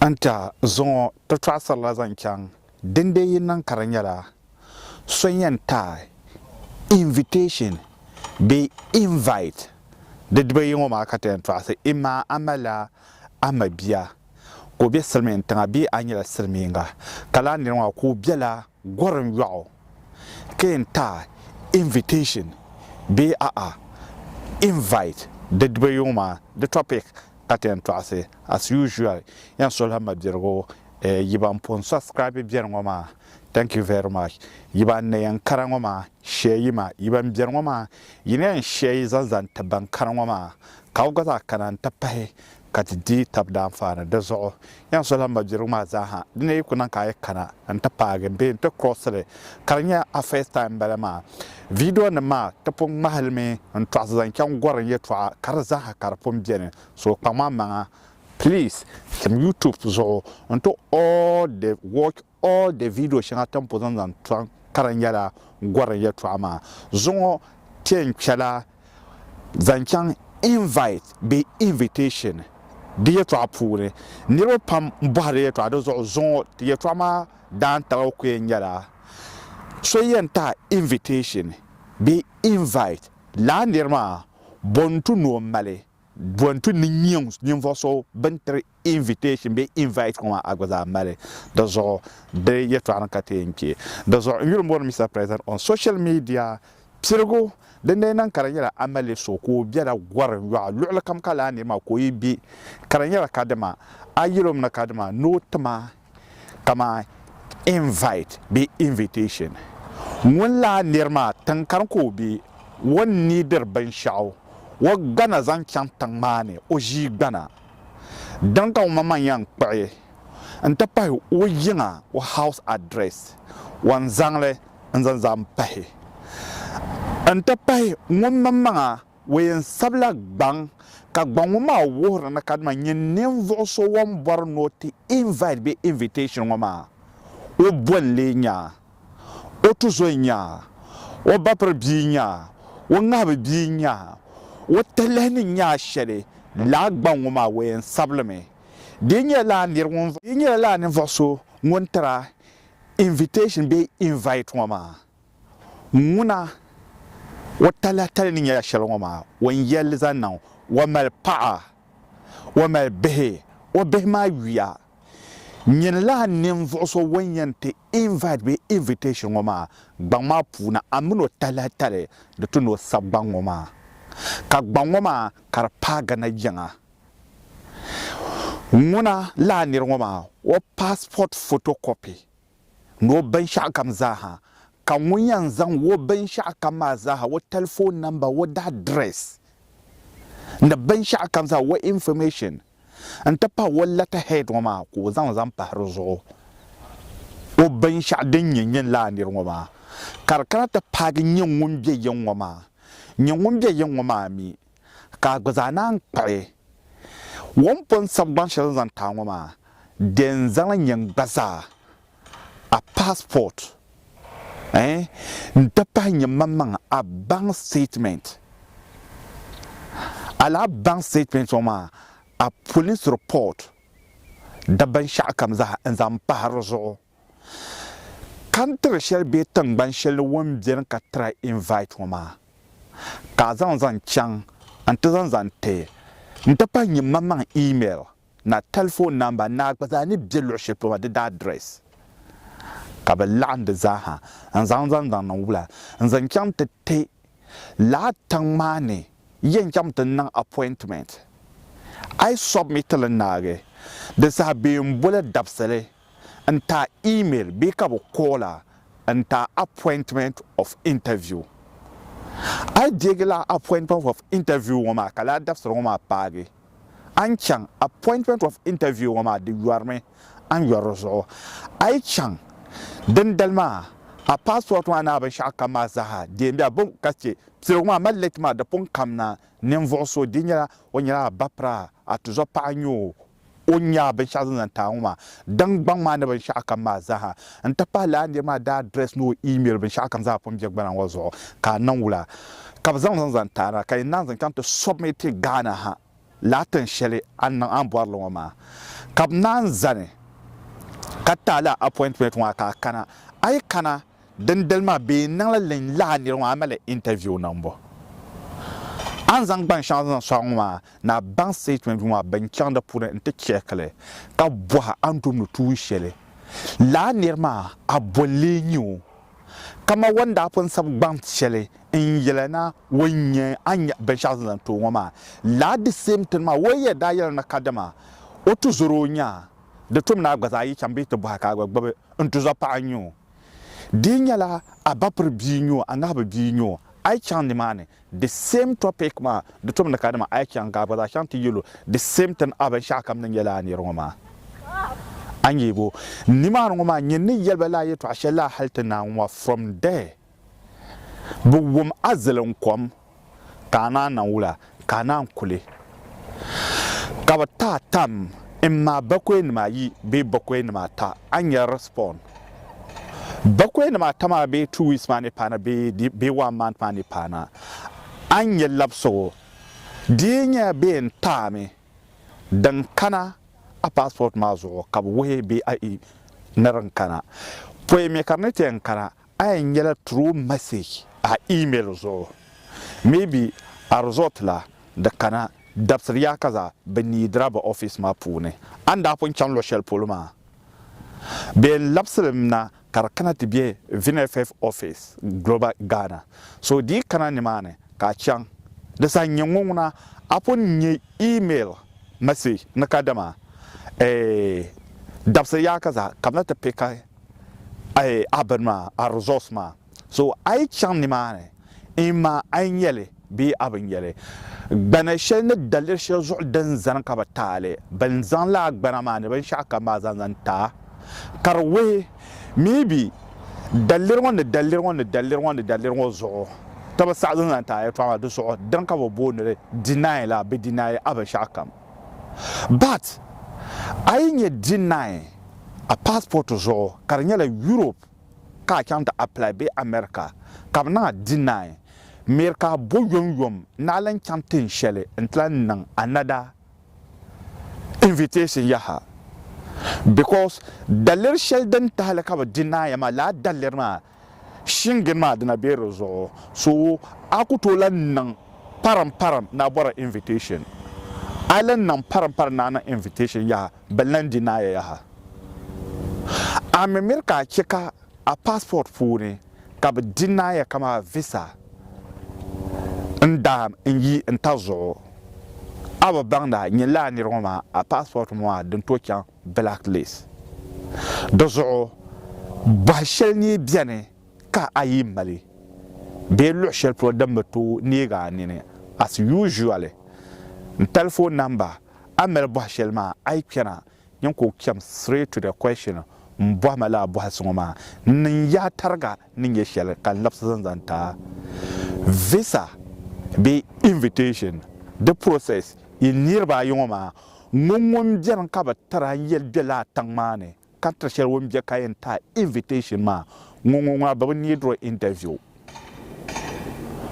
N-ti a zuŋɔ ti tɔɣisirila zaŋ chaŋ din dee yi niŋ ka di nyɛla so yɛn ti a invitation bee invite di diba yi ŋɔ maa ka ti yɛn tɔɣisi imaa a malila a mabia ka o be silimiintiŋa bee a nyɛla silimiinga ka lala niriŋɔ ka o bela Gorim yɔɣu ka yɛn taai invitation bee a'a invite di diba yuŋ maa di topic ka ti yɛn tɔɣisi as usual yɛn suhila mabirigu yi ban pun subscribe beri ŋɔ maa thank you very much yi ban na yɛn kara ŋɔ maa share yi ma yi ban beri ŋɔ maa yi na yɛn share yi zaŋ zaŋ ti ban kara ŋɔ maa ka bɛ gba zaa kana n ti pahi ka ti di tab daanfaani di zuɣu. Yan suhila mabirigu maa zaaha, di ni yi ku niŋ ka a yi kana n-ti paagi bee n-ti cross li, ka di nyɛ a first time m-bala maa, videonim maa ti pun ŋmahi li mi n-tɔɣisi zaŋ chaŋ gɔri n yɛtɔɣa ka di zaaha ka di pun beni, so kpaŋ a maŋa. Please tim YouTube zuɣu n-ti all the watch O de vidio shɛŋa ti ni po zaŋ zaŋ tɔri ka di nyɛla Gɔrim Yɛltɔɣa maa zuŋɔ ti ni kpɛla zaŋ chaŋ invite bee invitation di yɛltɔɣa puuni. Niriba pam bɔhiri yɛltɔɣa di zuɣu zuŋɔ ti yɛltɔɣa maa daantabiga ku yɛn nyɛla so yɛn tahi invitation bee invite lala niri maa bɔ n-tu ni o mali. Bɔ nti ni niŋ ninvuɣ so bɛn tiri invitation bee invite ŋɔ maa, a gba zaa mali di zuɣu di yɛtɔɣa ni ka ti yɛn kpe di zuɣu. N yuli m-bɔri ni Mister President on social media piligu din lee niŋ ka di nyɛla a mali so ka o bela gɔri n-yɔɣa luɣilikam ka lahi neei ma ka o yi be ka di nyɛla kadima a yɛl o mi ni kadima ni o ti ma kamani invite bee invitation. Ŋun lahi niri maa tiŋ kani ka o be, o ni neediri binshɛɣu, o gbana zaŋ chaŋ tiŋ maa ni, o ʒii gbana. Dini ka omaŋmaŋ yɛn kpuɣi n-ti pahi o yiŋa, o house address, o ni zaŋli n-zaŋ zaŋ pahi n-ti pahi ŋun maŋmaŋa Wayne sabila gbaŋ ka gbaŋ ŋɔ maa wuhiri ni kadama nyɛ ninvuɣu so wan bɔri ni o ti invite bee invitation ŋɔ maa, o bo n-lee nyaa, o tuzo nyaa, o bapiri bia nyaa, o ŋahibi bia nyaa, o tilihi ni nyaa shɛli, lala gbaŋ ŋɔ maa Wayne sabili mi. Di yi nyɛla lala ninvuɣu so ŋun tira invitation bee invite ŋɔ maa, Ŋuna o talahtali ni nyɛla shɛli ŋɔ maa, o ni yɛli zaŋ niŋ, o mali paɣa, o mali bihi, o bihi maa yuya, nyini lala ninvuɣ so ŋun yɛn ti invite bee invitation ŋɔ maa gbaŋ maa puuni, a min o talahtali di ti ni o sab gbaŋ ŋɔ maa, ka gbaŋ ŋɔ maa ka di paai Ghana yiŋa. Ŋuna lala nir ŋɔ maa, o passport photocopy. ni o binshɛɣukam zaaha, ka ŋun yɛn zaŋ o binshɛɣukam maa zaaha, o tɛlifon namba, o daa dirɛs ni binshɛɣukam zaa, o infɔmɛshin n-ti pahi o lɛtahɛd ŋɔ maa ka o zaŋ zaŋ pahi di zuɣu o binshɛɣu din nyɛ nyini lala nir ŋɔ maa, ka di kana ti paagi nyɛ ŋun be yiŋ ŋɔ maa, nyɛ ŋun be yiŋ ŋɔ maa mi. ka a gba zaa naan kpuɣi o ni pun sabi gbaŋ shɛli n zaŋ ti a ŋɔ maa, dee n zaŋli nyɛ n gba zaa a passport ɛɛn n ti pahi nyɛ man maŋ a bank statement. A lala bank statement ŋɔ maa a police report di binshɛɣu kam zaa n zaŋ pahi di zuɣu. Country shɛli bee tiŋgbani shɛli ni o ni beni ka try invite ŋɔ maa ka a zaŋ zaŋ chaŋ n ti zaŋ zaŋ ti n ti pahi nyɛ maŋmaŋ email ni a telephone number ni a gba zaa ni be luɣi shɛli polo maa di daa address ka bɛ laɣim di zaa ha n zaŋ zaŋ zaŋ niŋ wula n zaŋ chaŋ ti ti lala tiŋ maa ni yɛn chaŋ ti niŋ appointment a yi submit li naagi di saha bee m boli dabisili n ta email bee ka bi call a n ta appointment of interview. A yi deegi lala appointment of interview ŋɔ maa ka lala dabisili ŋɔ maa paagi a ni chaŋ appointment of interview ŋɔ maa di yɔrimi a ni yɔri di zuɣu. A yi chaŋ dindali maa a passport maa ni a binshɛɣu kam maa zaaha deei bɛ a bɛ ka chɛ piligu maa mali late maa di pun kamina ninvuɣu so di nyɛla o nyɛla a ba pira a tuzɔpaɣa n-nyɛ o O ni nyaɣi binshɛɣu zaŋ zaŋ ti a ŋɔ maa, daŋ gbaŋ maa ni binshɛɣu kam maa zaaha n-ti pahi lala nir maa daa address ni o email binshɛɣu kam zaa pun be gbana ŋɔ zuɣu ka a niŋ wula ka bɛ zaŋ zaŋ zaŋ ti a na ka yi naan zaŋ chaŋ ti submit Ghana ha lala tin shɛli a ni niŋ a ni bɔri li ŋɔ maa ka bɛ naan zani ka ti a lala appointment ŋɔ maa ka a kana. A yi kana Dindali maa bɛ yɛn niŋla lɛnyi laa niriba ŋɔ a mali interview niŋ bo a ni zaŋ gban shɛŋa zaŋ sɔŋ ŋɔ maa ni a baŋ statement ŋɔ maa bɛn chaŋ di puuni n ti check li ka bɔhi a ni tumdi tuun shɛli laa niri maa a boli lee nyɛ o kaman wan daa pun sabi gbaŋ shɛli n yɛli na o nyɛ a ni nya binshɛɣu zaŋ zaŋ ti o ŋɔ maa laa di same thing maa o yɛn daa yɛli na ka dama o tuzɔro o nya di tum ni a gba zaa yi chaŋ bee ti bɔhi ka a gba gbubi n tuzɔpaɣa n nyɛ o. di yi nyɛla a ba piri bia nyɔ a ŋahibu bia nyɔ a yi chaŋ nimaani the same topic maa di tom ni ka dama a yi chaŋ ka a gba zaa chaŋ ti yɛlo the same thing a binshɛɣu kam ni nyɛla a niri ŋɔ maa a ni yɛbo nimaani ŋɔ maa nyɛ ni yɛliba laa yɛtɔɣa shɛli laa hali ti naanwa from there bi wum a ziliŋ kom ka a naan niŋ wula ka a naan kuli? Ka bɛ ti a tam m ma bakɔinima ayi bee bakɔinima ata, a ni yɛn respond. Bakɔinima ata maa bee two weeks maa ni paana bee bee one month maa ni paana, a ni nya labisigu. Di yi nyɛla bɛ yɛn ti a mi din kana a passport maa zuɣu ka bɛ wuhi bɛ ni din kana, pɔi mi ka di ni ti yɛn kana A yɛn nyɛla through message a email zuɣu maybe a result la di kana dabisiri yaa ka zaa bɛ need a bɛ office maa puuni a ni daa pun chaŋ luɣi shɛli polo maa bɛ yɛn labisi li mi na ka di kana ti bɛ VNFF office global Ghana so di yi kana nimaani ka a chaŋ di saha n nyɛ ŋɔ ŋuna a pun nyɛ email message ni kadama eeh dabisiri yaa ka zaa ka bɛ na ti pick a ayi a bini maa, a resource maa. So a yi chaŋ nimaani in maa a yi nyɛli bee a bi nyɛli. Gbana shɛli ni daliri shɛli zuɣu din zani ka bi taali, bini zaŋ la a gbana maa ni binshɛɣu kam maa zaŋ zaŋ taa ka di wuhi maybe daliri ŋɔ ni daliri ŋɔ ni daliri ŋɔ ni daliri ŋɔ zuɣu ti bi saɣi zaŋ zaŋ taa yɛltɔɣa maa di zuɣu din ka bi booni li deny la bi deny a binshɛɣu kam. But a yi nyɛ deny a passport zuɣu ka di nyɛla Europe ka a chaŋ ti apply bee America ka bɛ niŋ a deny miri ka a bo yom yom ni a lan chaŋ tin shɛli n ti lan niŋ another invitation yaha because daliri shɛli din tahili ka bɛ deny ya maa lala daliri maa Shingin maa dina be di zuɣu so a ku tooi lan niŋ parim parim ni a bɔri invitation. A lan niŋ parim parim ni a niŋ invitation yaha bɛ lan deny ya yaha. A mi miri ka a chɛ ka a passport puuni ka bɛ deny ya kaman a visa n-daam n-yi n-ta zuɣu. A bi baŋ ni a nyɛla a nir ŋɔ maa a passport ŋɔ maa din tooi chaŋ. blacklist. Di zuɣu bɔhi shɛli ni beni ka a yi mali bee luɣi shɛli polo din bi tooi neeg a nini as usually n telephone number a mali bɔhi shɛli maa a yi kpɛna nyin ka o kpɛm straight to the question m bɔhi ma lala bɔhisi ŋɔ maa n niŋ ya tariga ni nyɛ shɛli ka n labisi zaŋ zaŋ ti a visa bee invitation di process yi niriba ayi ŋɔ maa Ŋɔ ŋun beni ka bɛ tira n yeli be laa tiŋ maa ni ka tiri sheli ŋun be ka yen taai invitation maa ŋɔ ŋɔ ŋuna bɛ bi need o interview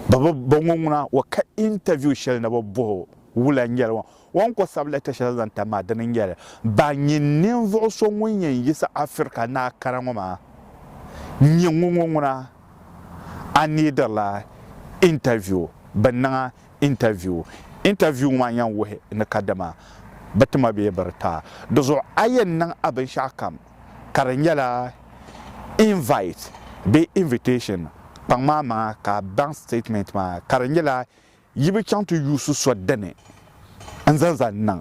bɛ bi bo ŋɔ ŋuna o ka interview sheli ni bɛ boho wula n nyeli ŋɔ o ni ko sabi letter sheli zaŋ tam maa dini n nyeli ba nyi ninvuɣu so ŋun yen yisi Africa naa kara ŋɔ maa n nye ŋɔ ŋɔ ŋuna a neediri la interview bɛ niŋa Interview, Interview ŋɔ maa yɛn wuhi ni kadama bɛ ti ma bee bɛ di ta di zuɣu a yɛn niŋ a binshɛɣu kam ka di nyɛla invite bee invitation kpaŋ maa maŋa ka a baŋ statement maa ka di nyɛla yi bi chaŋ ti yuusi so dini n-zaŋ zali niŋ.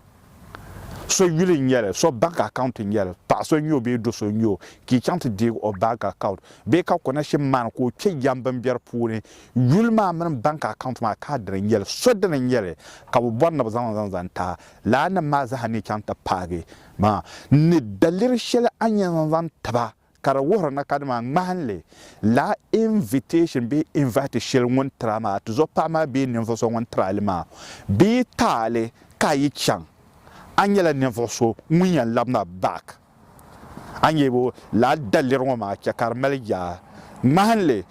So yuli n nyɛli, so bank account n nyɛli, paɣa so n nyɛ o bee do so n nyɛ o ka i chaŋ ti deeg o bank account bee ka ko nashim maani ka o kpe yɛm bimberi puuni, yuli maa mini bank account maa ka dini n nyɛli, so dini n nyɛli ka bɛ bɔri ni bɛ zaŋ zaŋ zaŋ taai laa nim maa zaa ni chaŋ ti paagi maa ni daliri shɛli a ni yɛn zaŋ zaŋ tiba. Ka di wuhiri na ka dama ŋmahinli laa invitation bee invite shɛli ŋun tira maa, tizuɣu paɣa maa bee ninvuɣ so ŋun tiri a li maa, bɛ yi ti a li ka a yi chaŋ, a nyɛla ninvuɣ so ŋun yɛn labin a back. A ni yɛlibu laa daliri ŋɔ maa chɛ ka di mali yaa. Ŋmahinli,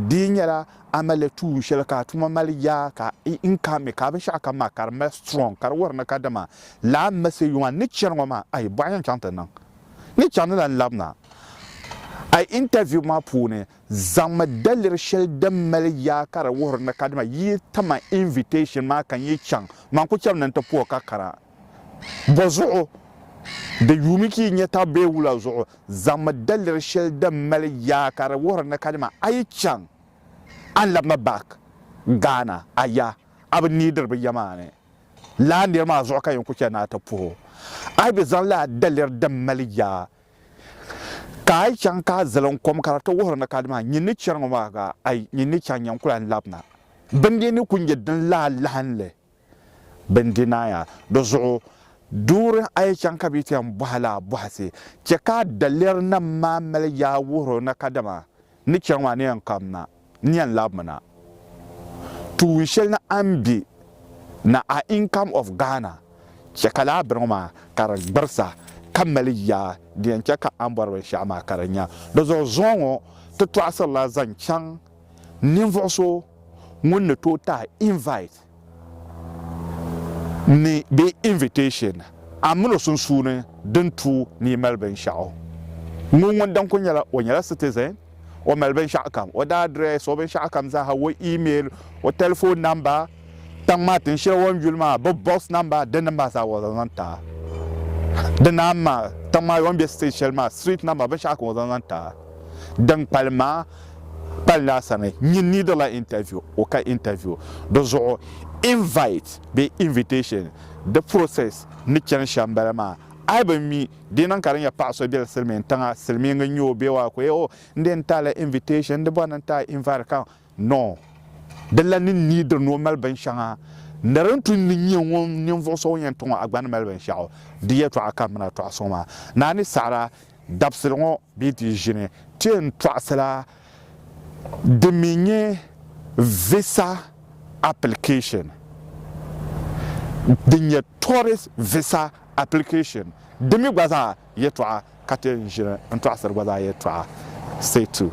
di yi nyɛla a malila tuun shɛli ka a tuma mali yaa ka n ka mi ka a binshɛɣu kam maa ka di mali strong, ka di wuhiri na ka dama laa message ŋɔ a ni chani ŋɔ maa, ayi, bɔɣu yɛn chaŋ ti niŋ. ni chaŋ ni lan labina a intaviu maa puuni, zaŋmi daliri shɛli din mali yaa ka di wuhiri ni ka dama yi tim a invitation maa ka n yi chaŋ, man ku chɛmi ni n ti puhi ka kana. Bɔ zuɣu? Di yuumi ka yi nya taba bee wula zuɣu, zaŋmi daliri shɛli din mali yaa ka di wuhiri ni ka dama a yi chaŋ, a ni labina back Ghana a ya, a bi neediri bɛ ya maa ni. Lala nir maa zuɣu ka yin ku chɛ ni a ti puh o. A yi bi zaŋ lala daliri din mali yaa ka a yi chaŋ ka a zali n kom ka di ti wuhir ni ka dama nyin ni chɛri ŋɔ maa ka a yi nyin ni chaŋ nyin ku lan lab na. Bindee ni ku nyɛ din lahi lahin li bindi na ya. Di zuɣu duuri a yi chaŋ ka bɛ yi ti yɛn bɔhi lala bɔhisi, chɛ ka a daliri nam maa mali yaa wuhir o ni ka dama ni chɛri ŋɔ maa ni yɛn kam na. n yɛn labimi na. Tuun shɛli ni a ni be na a income of Ghana chɛ ka laa biriŋ maa ka di gbirisa ka mali yaa di yɛn chɛ ka a ni bɔri binshɛɣu maa ka di nya. Di zuɣu zuŋɔ ŋɔ ti tɔɣisiri la zaŋ chaŋ ninvuɣu so ŋun ni tooi tahi invite ni bɛ invitation a mini o sunsuuni din tu ni yi mali binshɛɣu. Ŋun ŋun din kuli nyɛla o nyɛla citizen, o mali binshɛɣu kam, o daa address, o binshɛɣu kam zaaha, o email, o telephone number, tiŋ maa tin shɛli o ni yuli maa, bɛ box number, din din maa zaa o zaŋ zaŋ taa. Di naan maa, tiŋ maa o ni be state shɛli maa, street number, binshɛɣu kam o zaŋ zaŋ taa. Din kpalim maa, Pali naa sani nyin needila interview o ka interview di zuɣu invite bee invitation di process ni chani shɛm n bala maa ayi bi mi di niŋ ka di nyɛ paɣa so beli silimiin tiŋa silimiingi n nyɛ o bee waa ka o yɛ oh n dee n taala invitation n di bɔri ni n taai invite ka no di lan ni neediri ni o mali bin shɛŋa ni di ni tu ni nyɛ ŋun ninvuɣu so ŋun yɛn ti ŋɔ a gba ni mali binshɛɣu di yɛtɔɣa ka m mi na tɔɣa suŋ maa naa ni saɣira Dabisili ŋɔ bee di ʒini ti n tɔɣisila din mi nyɛ visa application din nyɛ tourist visa application di mi gba zaa yɛtɔɣa ka ti n ʒini n tɔɣisiri gba zaa yɛtɔɣa. Stay tuned.